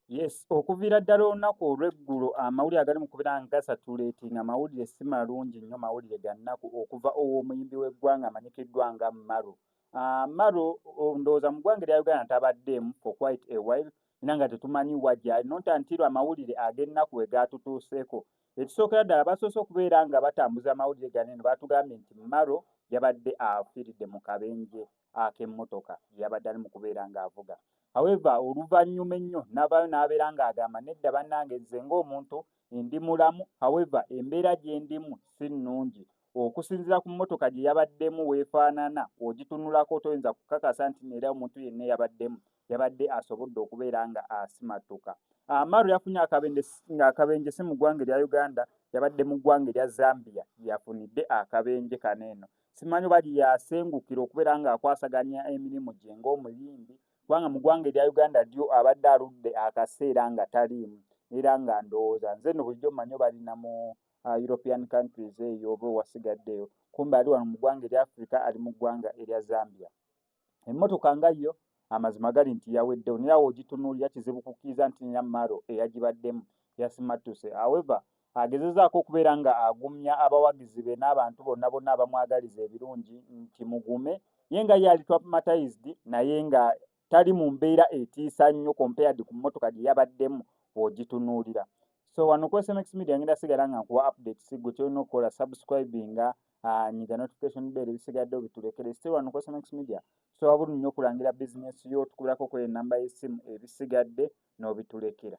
Yes, okuviira ddala olunaku olw'eggulo amawulire agali mu kubeera nga gasatuleetinga mawulire si malungi nnyo mawulire ga nnaku okuva ow'omuyimbi w'eggwanga amanyikiddwa nga Maro. Uh, Maro ndowooza mu ggwanga erya Uganda tabaddeemu for quite a while era nga tetumanyi wa gyali not until amawulire ag'ennaku we gaatutuuseeko. Ekisookera ddala basoose okubeera nga batambuza amawulire gano eno baatugambye nti Maro yabadde afiiridde mu kabenje ak'emmotoka gye yabadde ali mu kubeera ng'avuga. However, oluvannyuma ennyo n'avaayo n'abeera ng'agamba nedda bannange nze ng'omuntu ndi mulamu however embeera gye ndimu si nnungi okusinziira ku mmotoka gye yabaddemu weefaanana ogitunulako toyinza kukakasa nti neera omuntu yenna eyabaddemu yabadde asobodde okubeera nga asimattuka. Amaru yafunye akabenje si mu ggwanga erya Uganda, yabadde mu ggwanga erya Zambia yafunidde akabenje kano eno. Simanyi oba yasengukira okubeera ng'akwasaganya emirimu gye ng'omuyimbi kubanga mu ggwanga erya Uganda lyo abadde aludde akaseera nga taliimu era nga ndowooza nze no bulijjo mmanyi oba ali na mu uh, European countries eyo oba owasigaddeyo kumbe ali wano mu ggwanga erya Africa ali mu ggwanga erya Zambia. emmotoka nga yo amazima gali nti yaweddewo naye awo ogitunuulira kizibu kukkiriza nti nina maro eyagibaddemu yasimattuse aweva agezezaako okubeera nga agumya abawagizi be n'abantu bonna bonna abamwagaliza ebirungi nti mugume ye nga ye ali traumatized naye nga tali mu mbeera etiisa nnyo compared ku mmotoka gye yabaddemu ogitunuulira so wano ku sms media ngenda sigala nga nkuwa update sigwe kyolina okukola subscribinga ah, nyiga notification bell ebisigadde obitulekere still wano cosmex media tusobola bulungi nnyo okulangira bizinesi yo tukulako kweyo enamba y'essimu ebisigadde n'obitulekera